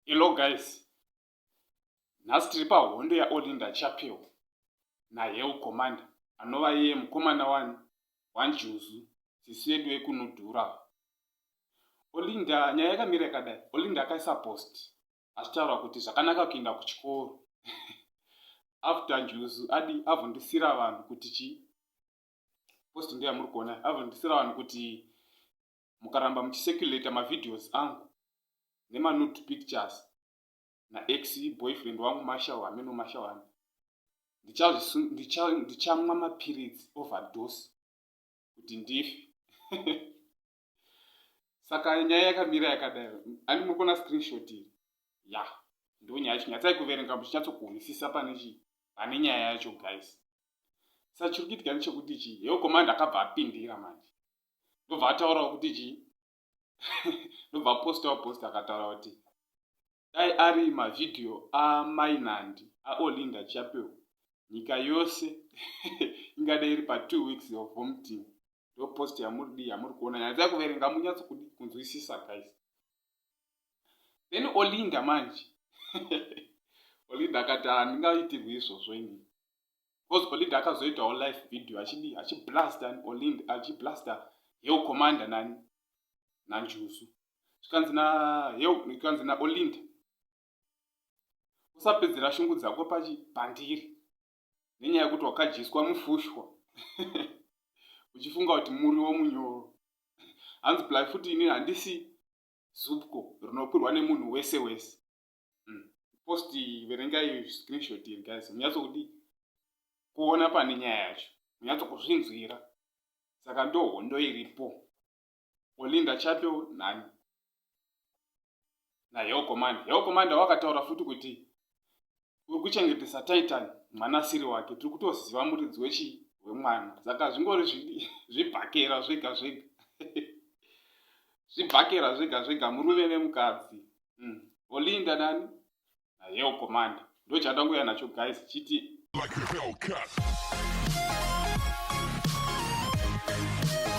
Hello guys. Nhasi tiri pahondo yaOlinda Chapel naHell Commander anova iye mukomana wani waNjuzu sisi yedu yekunodhura. Olinda nyaya yakamira yakadai. Olinda akaisa post achitaura kuti zvakanaka kuenda kuchikoro after njuzu adi avhundisira vanhu kuti chi post ndiya muri kuona avhundisira vanhu kuti mukaramba muchiseculator mavideos angu nemanud pictures naex boyfriend wangu mashaw hameno mashaw hami ndichamwa mapiritsi overdose kuti ndife saka nyaya yakamira yakadaro ani mukona screenshot iri ya yeah. ndonyaya yacho nyatsai kuverenga muchinyatsokuhwisisa pane chii pane nyaya yacho guys sa chiri kuitika nechekuti chii heo komandi akabva apindira manje ndobva ataurawo kuti chii ndobva apostawo post akataura kuti dai ari mavideo amainandi aolinda chapel nyika yose ingada iri pa two weeks of vomiting ndo post yamuri dii yamuri kuona nyaya dzai kuverenga munyatso kudi kunzwisisa guys then olinda manje olinda akati handingaitirwi izvozvo ini bcause olinda akazoitawo life video achidii achiblasta olinda achiblasta hell commander nani nanjuzu zvikanzi naheu zvikanzi naolinda usapedzera shungu dzako pachibhandiri nenyaya yekuti wakadyiswa mufushwa uchifunga kuti muriwo munyoro hanzi ply futi ini handisi zupko rinokwirwa nemunhu wese wese hmm. post verengai screenshot iri guys munyatsokudi kuona pane nyaya yacho munyatsokuzvinzwira saka ndohondo iripo Olinda Chato nani? Na Hell Commander. Hell Commander wakataura futi kuti uri kuchengetesa Titan mwana asiri wake. Tiri kutoziva muridzi wechii? Wemwana. Saka zvingori zvibhakera zvega zvega. Zvibhakera zvega zvega murume nemukadzi. Mm. Olinda nani? Na Hell Commander. Ndochatangoya nacho guys chiti like